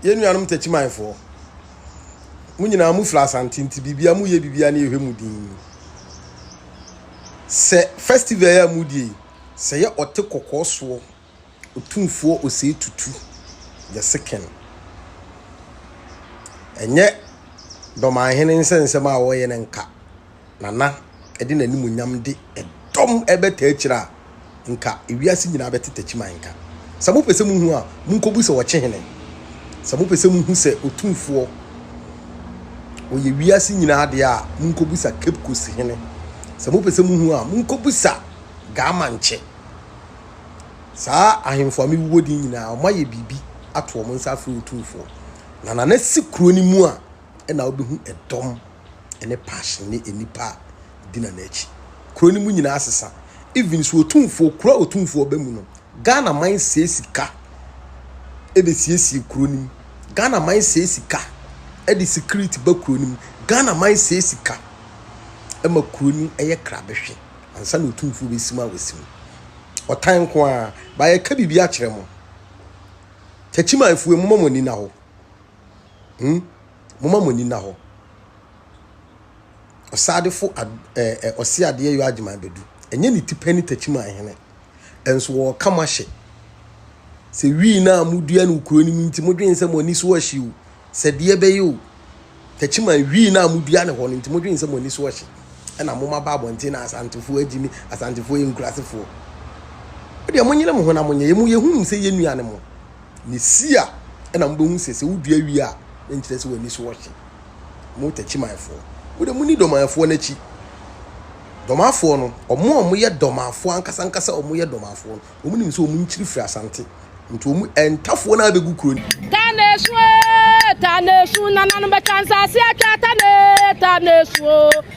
Yɛn nuanom Takyimanfoɔ, mo nyinaa mofiri Asante nti biribia moyɛ biribia ne yɛhwɛ mo din. Sɛ festival a modie sɛ yɛ ɔte kɔkɔɔ soɔ otumfoɔ osei tutu the second. Ɛnyɛ dɔmanhene nsɛnsɛm a wɔyɛ no nka na na ɛde n'animuonyam de ɛdɔm ɛbɛtaa akyire a, nka ewiase nyinaa bɛte takyiman nka. Sɛ mopɛ sɛ muhu a, monkɔbu sɛ ɔkye hene. Sɛ mopɛ sɛ muhu sɛ otumfoɔ ɔyɛ wiase nyinaa deɛ a, monkɔbusa Cape Coast hene. Sɛ mopɛ sɛ muhu a, monkɔbusa Gaamankyɛ. Saa ahemfo a mewuwɔ din nyinaa, wɔayɛ biribi ato wɔn nsa afrɛ otumfoɔ. Na na nasi kuro no mu a, ɛna wobɛhu ɛdɔm. ne passion ne nnipa a gyina n'akyi. Kuro no mu nyinaa asesa. Even so otumfoɔ kuro a otumfoɔ ɔbɛ mu no, Ghana man sɛe sika ɛde siesie kuro no mu. Ghana man sɛe sika ɛde security ba kuro no mu. Ghana man sɛe sika ɛma kuro no ɛyɛ krabehwe ansa na otumfoɔ bɛsi mu a wɔsi mu. Ɔtan nko a baayɛ ka biribi akyerɛ mo. Takyimanfoɔ mu mɔmɔ nina hɔ. Hmm? Momma mo ani nna hɔ. Ɔsadefo ɛɛ ɔse adeɛ yɔ agyema abɛdu. Ɛnyɛ ne ti pɛ ne takyima ahene. Ɛnso wɔreka mo ahyɛ. Sɛ wii no a modua no kuro no mu nti modwene sɛ mo ani so ahye o. Sɛ deɛ bɛyɛ o. Takyima wii no a modua no hɔ no nti modwene sɛ mo ani so ahye. Ɛna moma ba abɔnten na asantefoɔ agyi ne asantefoɔ yɛ nkurasefoɔ. Wodeɛ monyere mo ho na monyɛ. Yɛ mo yɛhunu sɛ yɛ nua ne mo. Ne si a, ɛna mobɛhu sɛ sɛ wodua wie a, na nkyerɛ sɛ w'ani so wɔ hye. Mo takyimanfoɔ, mo de moni dɔmanfoɔ no akyi. Dɔmanfoɔ no, wɔn a wɔyɛ dɔmanfoɔ ankasa ankasa a wɔyɛ dɔmanfoɔ no, wɔn nim sɛ wɔn nkyiri firi asante. Nti wɔn ntafoɔ no abɛgu kuro no. Tanesu ee, Tanesu, nananom bɛtwa nsaase atwa Tane, Tanesu oo.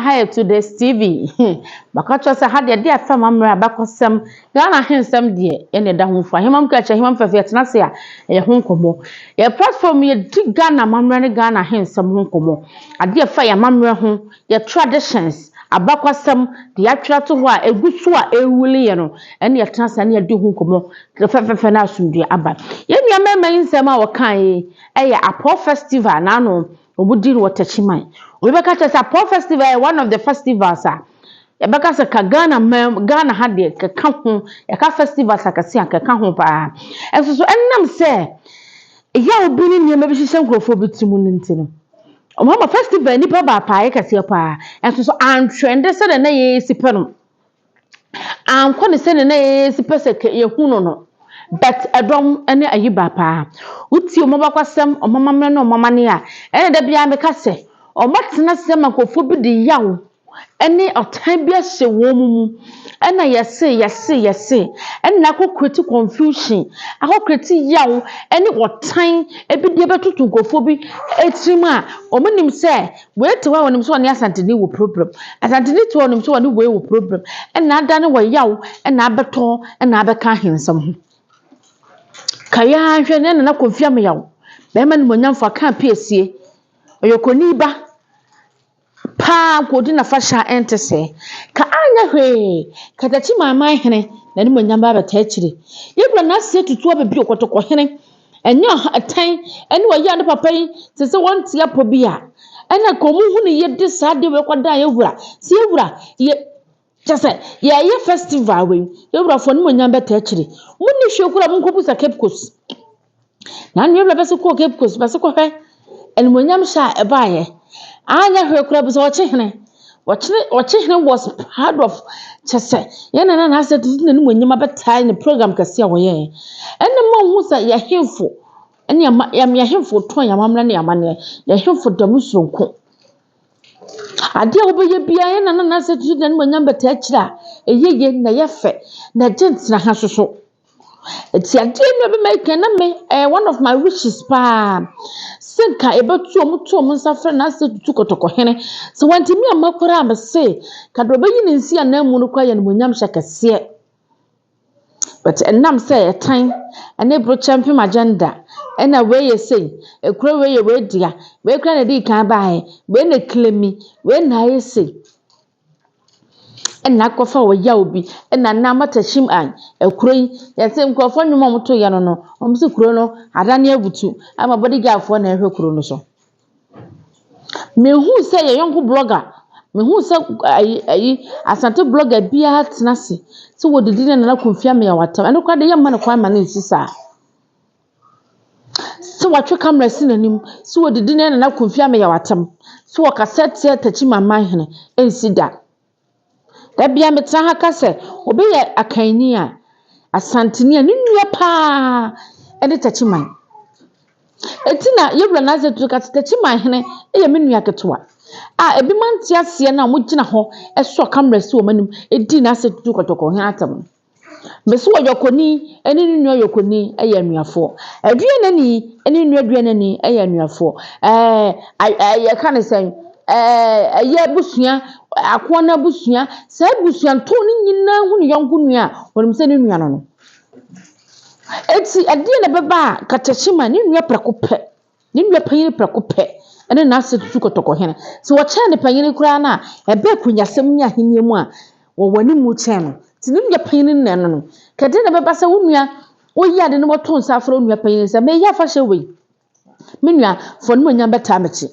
aha yɛ today tv bɛka kyerɛ sɛ ha deɛ ɛde afɛ ma mmerɛ abakɔsɛm ghana ahensɛm deɛ ɛna ɛda ho mfa hemam kra kyerɛ hemam fɛfɛ yɛtena ase a ɛyɛ ho nkɔmmɔ yɛ platform yɛdi ghana amammerɛ ne ghana ahensɛm ho nkɔmmɔ adeɛ ɛfa yɛ amammerɛ ho Yɛ traditions, abakɔsɛm, deɛ yɛatwerɛ ato hɔ a ɛgu so a ɛrewuli yɛn no, ɛne yɛtena ase a ne yɛdi ho nkɔmmɔ fɛfɛɛfɛ na asomdwoeɛ aba. Yɛn nua mmarima yi nsɛm a wɔkaeɛ yi yɛ Apɔw Festival na ano wɔdi no wɔ Techiman. Obi bɛka kyerɛ sɛ Apɔw Festival yɛ one of the festivals a yɛbɛka sɛ ka Ghana man mu, Ghana ha deɛ kɛka ho, yɛka festivals akɛse a kɛka ho paa. Nso so ɛnam sɛ yaw bi ne nneɛma bi hyehyɛ nkurɔfoɔ bi tirim no nti no, Wɔama festival nnipa ba apaaeɛ kɛseɛ paa, nso so antrɛn de sɛdeɛ na yɛsi pɛ no. Ankɔ ne sɛdeɛ na yɛsi pɛ sɛ yɛhu no no. But ɛdɔm ne ayi ba paa. Wotie wɔn abakɔsɛm, wɔn amammerɛ ne wɔn amanneɛ a, ɛna da biara meka sɛ, wɔatena ase ama nkurɔfoɔ bi de yaw ne ɔtan bi ahyɛ wɔn mu mu na yɛse yɛse yɛse na akɔ create confusion akɔ create yaw ne ɔtan ebi deɛ bɛtoto nkurɔfoɔ bi tirim a wɔn nim sɛ wei te hɔ a wɔnim sɛ wɔne asanteni wɔ problem asanteni te hɔ a wɔnim sɛ wɔne wei wɔ problem na ada no wɔ yaw na abɛtɔ na abɛka ahensɛm ho kayaa hwɛ ne nana kɔmfia me yaw bɛrima no monyamfo aka apiesie ɔyɛ kɔni ba Paa nka odi n'afahyɛ a ɛnte sɛɛ. Ka anyɛ hwee, katakyi manman hene, n'animuonyam ba abɛtaa akyiri. Yɛkura n'ase atutu aba bio, kɔtɔkɔ hene. Ɛnyɛ ɔha ɛtɛn ne ɔyea ne papa yi, te sɛ wɔn nte apɔ bi a. Ɛna nka wɔn ho nni yie de saa adeɛ wei kɔdan yɛn wura. Sɛ yɛn wura, yɛ. Kyɛ sɛ, yɛɛyɛ festival wei, yɛwura fo animuonyam bɛtaa akyire. Mo nni hwee koraa, mo nkɔ busa Cape Coast. Nanu yɛwura bɛ se kɔɔ Cape Coast, bɛ se kɔ hwɛ animuonyam hyɛ a ɛbaayɛ. Anyɛ hwee koraa, busa ɔkyehene. Ɔkyene, ɔkyehene was proud of, kyɛ sɛ, yɛn nana na asɛ tutu n'animuonyam abɛtaa ne program kɛse a wɔyɛ. Ɛnna mo nhu sɛ yɛ hemfo, ɛne ama, yɛ hemfo tɔn yɛ amammerɛ ne yɛ amanneɛ, yɛ hemfo da mu soronko. Adeɛ a wobɛyɛ biara yɛn nana no asɛ tutu n'animuonyam bɛtaa akyire a ɛyɛ yie na ɛyɛ fɛ na ɛgye ntena ha nso so nti adeɛ no a ɛbɛma ɛka na me ɛyɛ one of my wishes paa sɛ nka yɛbɛto wɔn to wɔn nsa frɛ n'asɛ tutu kɔtɔkɔhene sɛ wantumi amma koraa a mese nka deɛ ɔbɛyi ne nsi ananmu no koraa yɛ animuonyamhyɛ kɛseɛ. But ɛnam sɛ ɛtan ne burokyɛmpem agenda ɛna wei yɛ sei, kuro wei yɛ wei dea, wei koraa na ɛdii kan baaɛ, wei na ɛclaimi, wei na ayɛ sei, ɛna akɔfa wɔ yaw bi, ɛna nnɛ amatahyem an, kuro yi, yɛse nkorɔfoɔ nnwom a wɔtoeɛ no no, wɔse kuro no adane abutu ama bodyguardfoɔ na ɛrehwɛ kuro no so. Mehuu sɛ yɛn yɔnko blɔga, mehuu sɛ ayi ayi Asante blɔga bi atena ase sɛ ɔredidi ne Nana Kofi Ameawo atɛm. Ɛno koraa deɛ yɛremma no kwan mma no nsi saa. Sɛ watwe camera asi n'anim sɛ ɔredidi ne Nana Kofi Ameawo atɛm, sɛ ɔkasa tia Takyi Manman hene, ɛnsi da. Dabi a metsena ha ka sɛ obi yɛ akanyi a, Asanteni a no nua paa ne Takyiman. Ntsi na Yewura Nasa Tutu ka dɛ Takyiman hene yɛ me nua ketewa a binom anntse aseɛ no a wɔgyina hɔ sɔ cameras wɔ m'enyim dzi Nasa Tutu Kɔtɔkɔnhene atsɛm no. Me so ɔyɔkoni ne ne nua yɔkoni yɛ anuafoɔ. Aduanani ne ne nua aduanani yɛ anuafoɔ. Ɛɛ yɛka no sɛn? Ɛyɛ abusua, akoa no abusua, saa abusuantɔn no nyinaa hu ne yɔnko nua a, wɔnim sɛ ne nua no no. Enti ɛdeɛn na ɛbɛba a, katakye ma ne nua prɛko pɛ. Ne nua panyin prɛko pɛ ne n'asɛde tu kɔtɔ kɔ hene. Sɛ wɔkyɛn ne panyin koraa no a, ɛba akunyasɛm ne ahenni mu a, wɔwɔ anim kyɛn no. Nti ne nua panyin nnɛ no no, ka dɛn na ɛbɛba sɛ wo nua oyi ade na wato nsa afrɛ wo nua panyin sɛ, Mereyɛ afahyɛ wei. Me nua, fa w'animuonyam bɛtaa m'akyi.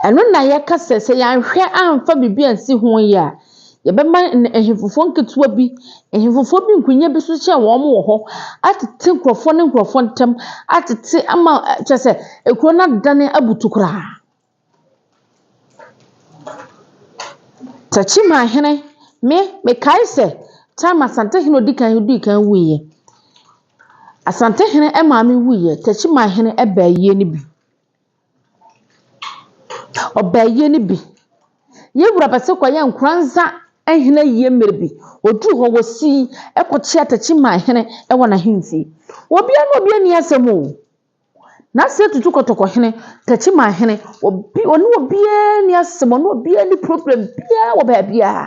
Ɛno na yɛka sɛ, sɛ yɛanhwɛ amfa biribi ansi ho yie a, yɛbɛma ahefufoɔ nketewa bi, ahefufoɔ bi nkonnwa bi so sɛ wɔn wɔ hɔ atete nkurɔfoɔ ne nkurɔfoɔ ntam, atete ama kyerɛ sɛ, kuro no adane abutu koraa. Takyimaahene, me, mekae sɛ, time Asantehene a ɔdi kan no dii kan wuiɛ. Asantehene maame wuiɛ, Techiman hene baa yie no bi. Ɔbaa yie no bi. Yɛn wura Bɛse Kwayaa Nkuranza hene ayie mmerɛ bi. Ɔduru hɔ, ɔsii kɔkyea Techiman hene wɔ n'ahemfie. Obiara ne obiara nni asɛm o. N'ase atutu kɔtɔkɔhene, tɛkyemahene, obi, ɔne obiara nni asɛm, ɔne obiara nni problem biara wɔ baabiara.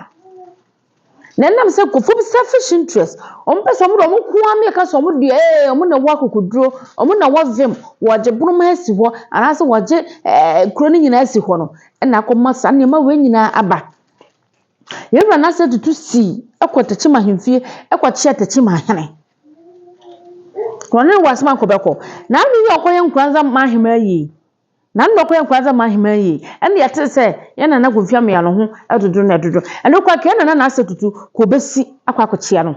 Na ɛnam sɛ nkurɔfoɔ bi selfish interest, wɔn pɛ sɛ wɔn de wɔn nko ara mmea ka sɛ wɔn deɛ ee wɔn na ɛwɔ akokoduro, wɔn na ɛwɔ vim, wɔgye boroma asi hɔ anaasɛ wɔgye ɛɛ kuro no nyinaa asi hɔ no ɛna akɔma saa nneɛma wei nyinaa aba. Yɛn wura n'ase atutu sii ɛkɔ tɛkyemahemfie ɛkɔkyea tɛkyemahene. Hɔn nye w'asɛm akɔ bɛkɔ. Na ano yi a ɔkɔyɛ nkran dza ma aheman yie. Na ano na ɔkɔyɛ nkran dza ma aheman yie. Ɛna yɛtee sɛ yɛn nana Kofi Ameyar no ho dodo na ɛdodo. Ɛno koraa nka yɛn nana Narseh Tutu kɔ besi akɔ akɔkyea no.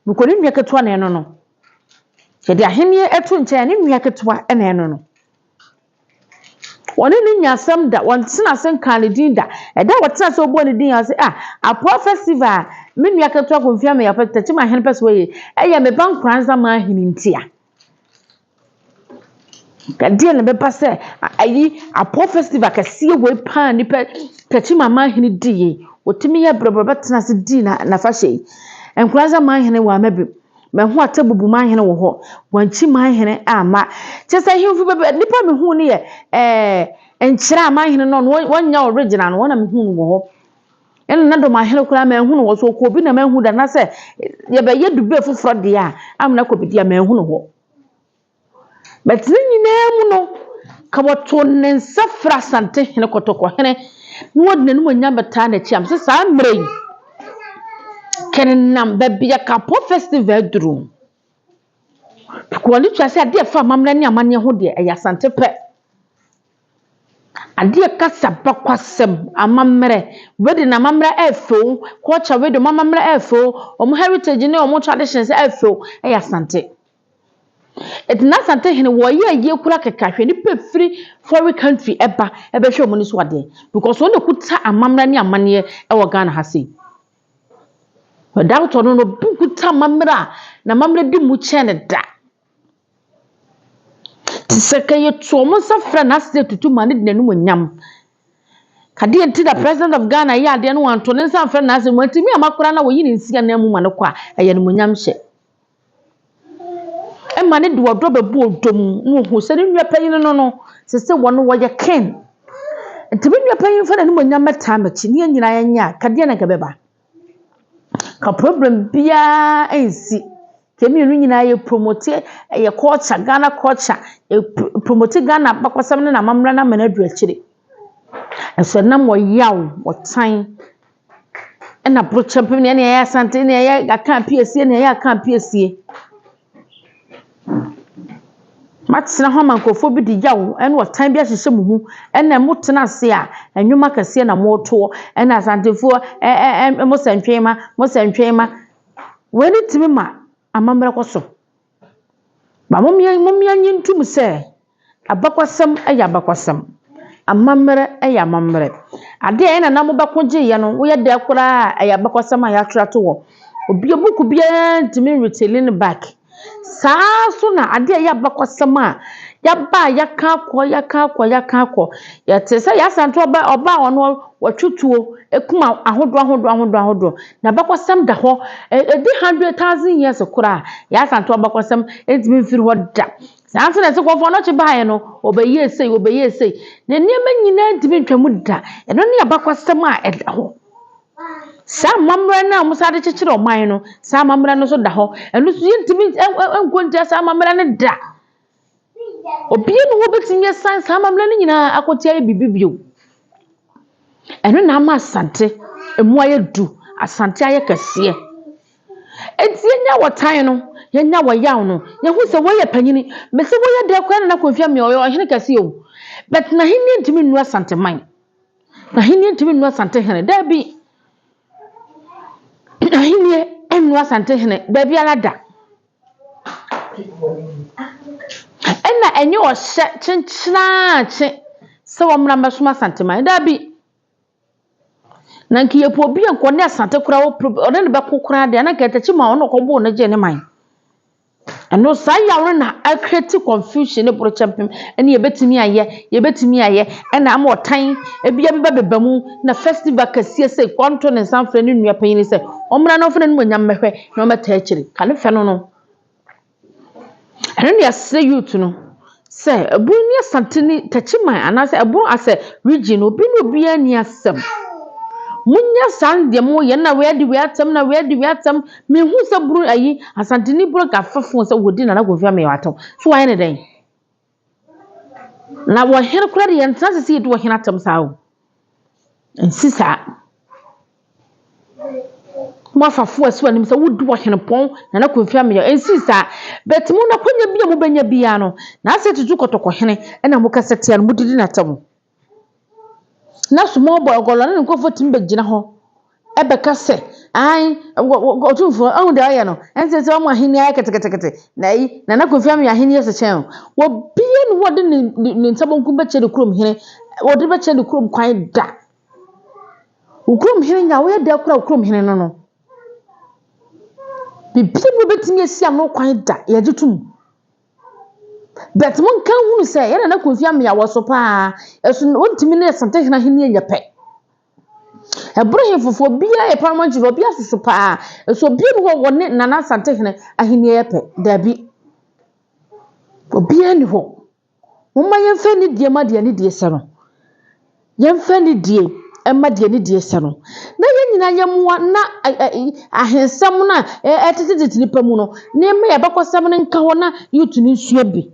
Mekɔ ne nua ketewa na ɛno no. Yɛde ahenneɛ to nkyɛn a ne nua ketewa na ɛno no. Wɔne no nyaa asɛm da, wɔntee n'ase nkaa ne din da. Ɛda a wɔtee ase a wɔbɔɔ ne din ase sɛ, Ah, Apoa Festival a me nua ketewa Kofi Ameyape Takyiman Hene pɛ sɛ ɔyɛ yi, ɛyɛ me ba Nkoranza man hene ntia. Ɛdeɛn na ɛbɛba sɛ ayi Apoa Festival kɛseɛ wei paa nipa Takyiman man hene di yi, wɔtumi yɛ brɛbrɛ bɛtena ase di n'afahyɛ yi. Nkoranza man hene wamma bi. Mahu atɛbubu man hene wɔ hɔ, wɔankyi man hene amma. Kyerɛ sɛ ahemfo beb nnipa a mehuu no yɛ eh, nkyerɛ a man hene no no wɔnyɛ original no, wɔn na mehuu no wɔ hɔ. Ɛna na dɔm ahene koraa manhu no wɔ so, ɔkɔ obi na manhu da, na sɛ yɛbɛyɛ dube foforɔ deɛ a, amena kɔ bi deɛ a manhu no hɔ. Bɛtse ne nyina mu no, nka wɔtoo ne nsa frɛɛ Asantehene Kɔtɔkɔhene na wɔdze n'enyimonyam bɛtaa n'ekyir a, mese saa mberɛ yi, kenenam baabi a Kapɔ Festival duru no, Prikowani no kyerɛ sɛ adeɛ a ɛfa amammerɛ ne amanneɛ ho deɛ, ɛyɛ Asante pɛ. Adeɛ a ɛka sabakwasɛm, amammerɛ, wedding amammerɛ ɛɛfɛ o, culture wedding wɔn amammerɛ ɛɛfɛ o, wɔn heritage ne wɔn traditions ɛɛfɛ o, ɛyɛ Asante. Ɛde n'asante hene wɔ yɛ ayie kura kɛkɛ ahwɛ nipa firi foreign country ɛba ɛbɛhwɛ ɔmo ni so adeɛ because ɔno na ɔkuta amammerɛ ne amaneɛ ɛwɔ Ghana ha sei without ɔno no obi nkuta amammerɛ a n'amammerɛ di mu kyɛn no da te sɛ ka yɛtu ɔmo nsa frɛ no ase sɛ tutu ma no de n'anim nyam kadeɛ nti na president of Ghana yɛ adeɛ no wanto ne nsa mfrɛ no ase wantumi ama koraa na wɔyi ne nsi anan mu ma no kɔ a ɛyɛ no mu nyam hyɛ. Ɛma no de ɔdɔ bɛbu ɔdɔ mu na ɔhu sɛ ne nua panin no no, ɛsɛ sɛ wɔne wɔyɛ kin. Nti me nua panin mfa n'animuonyam mmɛtaa m'akyi ne yɛn nyinaa yɛnyɛ a, anka deɛn na anka ɛbɛba? Anka problem biara nsi. Nka yɛn mmienu nyinaa yɛpromote yɛn culture, Ghana culture, yɛpromote Ghana abakɔsɛm ne n'amammerɛ no ama no adu akyire. Nanso ɛnam ɔyaw, ɔtan, Ɛna brɔkyɛ mpem nea ɛyɛ asante nea ɛyɛ aka apiesie nea ɛyɛ aka apiesie. Matena hɔ ama nkurɔfoɔ bi de yaw ne ɔtan bi ahyehyɛ mo mu. Ɛna motena ase a, nnwom akɛseɛ na motoɔ. Ɛna Asantefoɔ ɛ ɛ ɛ mo santwema, mo santwema. Wei no tumi ma. Amambra kɔ so. Ma momyɛ momyɛ nye ntum sɛ, abakɔsɛm yɛ abakɔsɛm, amambrɛ yɛ amambrɛ. Ade a hɛn nananom bɛko gyeeɛ no, woyɛ dɛ koraa a yɛ abakɔsɛm a yɛatwer ato hɔ. Obia buukuu biara nntumi retselling back. Saa so na ade a ɔyɛ abakɔsɛm a yɛaba a yɛka akɔ, yɛka akɔ, yɛka akɔ. Yɛtse sɛ Yasanto ɔbaa ɔbaa hɔn hɔ, wɔtwe tuo, ekum ahodoɔ ahodoɔ ahodoɔ ahodoɔ. N'abakɔsɛm da hɔ. Ɛ, ɛdi hundred thousand years koraa a, Yaa Asantewaa abakɔsɛm ntumi mfiri hɔ da. Saa ara nso na ɛsɛ Kɔmfoɔ Anokye baeɛ no, ɔbɛyɛɛ sei, ɔbɛyɛɛ sei. Ne nneɛma nyinaa ntumi ntwa mu da. Ɛno ne abakɔsɛm a ɛda hɔ. Saa amammerɛ no a wɔsan de kyekyere ɔman no, saa amammerɛ no nso da hɔ. Ɛno nso, yɛntumi ɛ, ɛ, nkɔ ntia saa amammerɛ no da. Obiara nni hɔ a obetumi asan saa amammerɛ no nyinaa akɔte ayɛ biribi bio. Ɛno na ama Asante mu ayɛ duru, Asante ayɛ kɛseɛ. Enti yɛn a wɔtan no, yɛn a wɔyaw no, yɛhu sɛ wei yɛ panin. Mese wei yɛ dɛn koraa Nana Akufo Addo, ɔyɛ ɔhene kɛse o, but n'ahenni ntumi nnu Asanteman. N'ahenni ntumi nnu Asantehene, daabi. N'ahenni nnu Asantehene, daabi ara da. Ɛna ɛnyɛ ɔhyɛ kyenkyenaakye sɛ wɔmmra mmɛsom Asanteman. Dabi! Na nka yɛpɛ obi a nka ɔne Asante koraa ɔpɛ ɔne no bɛko koraa deɛ a, na nka Ntakyi maa ɔno ɔkɔbɔɔ no gyee ne man. Ɛno saa yaw no na ɛkreti confusion ne borokyɛmpem ne yɛbɛtumi ayɛ, yɛbɛtumi ayɛ ɛna ama ɔtan ebia bɛba bɛba mu na festival kɛseɛ sɛ ɔnto ne nsa mfrɛ ne nua panin sɛ ɔmmra na ɔmfa n'animuonyam mmɛhwɛ. na ɔmmɛtaa akyiri. Ka ne fɛ no no. Ɛno na yɛsrɛ youth no sɛ ɛboro ne Asante ne Takyiman anaasɛ ɛboro as a region no obi ne obiara nni asɛm. Monyɛ saa no deɛ mo yɛn na wei adi wei atɛm na wei adi wei atɛm. Mehu sɛ boro ayi Asanteni boro nka fafo sɛ wɔdi Nana Kofi Ameyɔ atɛm. So wayɛ ne dɛn? Na wɔ hene koraa de yɛntena ase sɛ yɛdi wɔ hene atam saa o nsi saa mafafo a ɛso anim sɛ wodi wɔ hene pɔn na na kɔmfi ameyɛ nsi saa bɛti mu na kɔnya bi a mobɛnya biara no na asɛ tutu kɔtɔkɔ hene ɛna mokasa tia no modidi n'atam Na small boy ɔkɔla ne ne nkorɔfo tumi bɛgyina hɔ bɛka sɛ, ae, wɔ wɔ Otumfoɔ, woahu deɛ woayɛ no? Ɛnsɛ sɛ wama ahenni ayɛ ketekete. Na ayi, Nana Kofi ama yɛn ahenni ase kyɛn o. Obiara nni hɔ a ɔde ne ne ne nsa benkum bɛkyerɛ ne kurom hene, ɔde bɛkyerɛ ne kurom kwan da. Wo kurom hene nya woyɛ dɛ kora wo kurom hene no no. Biribiara bi a wobɛtumi asi ano kwan da, yɛgye tom. But monka nhunu sɛ yɛ Nana Kofi Amea wɔ so paa, ɛso na ɔntumi ne Asantehene ahennie nyɛ pɛ. Ɛboro hemfo fo obiara yɛ paramount chief obiara soso paa, ɛso obiara ni hɔ ɔne Nana Asantehene ahennie yɛ pɛ, daabi. Obiara ni hɔ. Momma yɛmfa anidie ma deɛ anidie sɛ no. Yɛmfa anidie mma deɛ ne deɛ sɛ no, na yɛn nyinaa yɛmmoa na ahensɛm no a ɛtetetete nnipa mu no, na yɛmma yɛn abakɔsɛm no nka hɔ na youth no nsua bi.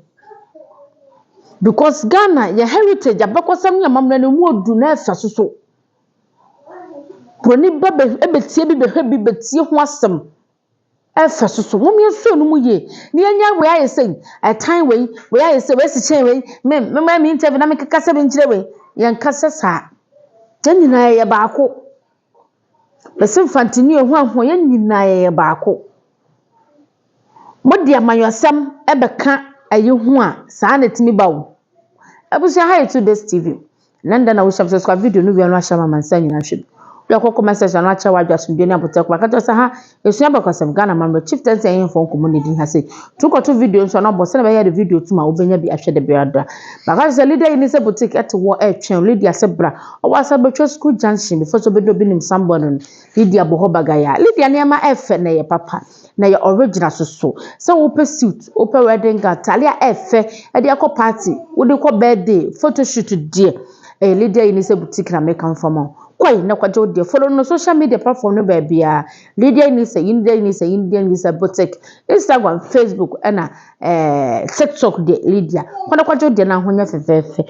Because Ghana, yɛn heritage, abakɔsɛm ne amammerɛ no, ɛmu ɔduru na ɛfa so so. Buroni ba bɛ, bɛtie bi, bɛhwɛ bi, bɛtie ho asɛm. Ɛfa so so. Mom yɛnsuo no mu yie. Ne yɛnyɛ wei ayɛ sei. Ɛtan wei. Wei ayɛ sei. Wei asi kyɛn wei. Me me ma me interview na me keka sɛ me nkyerɛ wei. Yɛnka sɛ saa. Yɛn nyinaa yɛyɛ baako. Mese mfantini o hwan ho yɛn nyinaa yɛyɛ baako. Mode amanyɔsɛm ɛbɛka ayi ho a saa na ɛtumi ba o. Abusua ha yɛ two days TV. Ɛnɛ da na wo sub subscribe video no wia no ahyɛ ma mansa nyina hwɛ bi. Wia kɔ comment section no akyɛ wadwa asomdwe ne abotɛ kuma ka kyɛ sɛ ha esua bɛkɔsɛm Ghana mamrɛ chief tɛnse ɛyɛ mfɔ nkɔmɔ ne din ha sei. Tu kɔto video nso na bɔ sɛ na bɛyɛ de video tum a wobɛnya bi ahwɛ de bia da. Baka sɛ Lydia yi ne sɛ boutique ɛte wɔ ɛtwɛn Lydia sɛ bra. Ɔwɔ asa bɛtwa school junction before sɛ obɛdu obi nim Samboy no no. Lydia bɔ hɔ bagayaa. Lydia nneɛma ɛfɛ na ɛyɛ papa. na yɛ original soso sɛ wopɛ suit wopɛ wedding gown taadeɛ a ɛfɛ ɛde akɔ party wode kɔ birthday photo shoot deɛ ɛyɛ eh, Lydia Eunice boutique na meka mfa ma kɔe na kɔgye wo deɛ follow no social media platform no baabiara Lydia Eunice Lydia Eunice Lydia Eunice boutique Instagram Facebook ɛna ɛɛ eh, TikTok deɛ Lydia kɔ na kɔgye wo deɛ na ho nyɛ fɛfɛɛfɛ.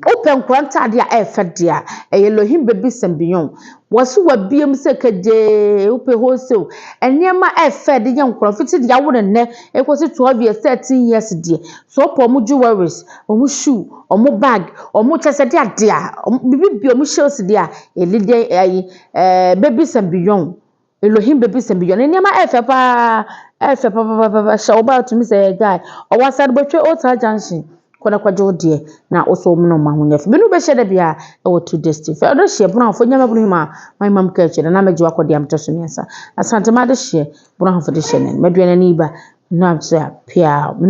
Wopɛ nkora ntade a ɛyɛ fɛ deɛ a, ɛyɛ Lohim Babies and Beyond. Wɔn so wɔabue mu sɛ kegyee, wopɛ wholesale nneɛma a ɛyɛ fɛ de yɛ nkora, fiti deɛ awo no nnɛ rekɔsi twelve years, thirteen years deɛ. So wopɛ wɔn jewelries, wɔn shoe, wɔn bag, wɔn kyerɛ sɛ deɛ adeɛ a wɔn biribi bue wɔn shells deɛ a, yɛde deɛ ɛyi ɛɛ Babies and Beyond. Elohim bebisa me bio. Ne nneɛma yɛ fɛ paa, ɛyɛ fɛ papapapa. Hyɛ wo bag tumi sɛ yɛ guy. Ɔwɔ asade bɛtwa Old Town Junction. Kɔ na kɔgye wo deɛ na wo so mene wo ma ho nyɛ fɛ. Me ne wo bɛhyia da biara ɛwɔ Two Days Tea. Fɛ ɔdehyeɛ Bonoahofo nyɛ mabunu hima ma hima mu kɛɛkyɛ na na mɛgye wakɔ deɛ metɔ so mmiɛnsa. Asantema adehyeɛ Bonoahofo dehyeɛ nɛn. Mɛduane ani ba na sɛ pia me ne wo.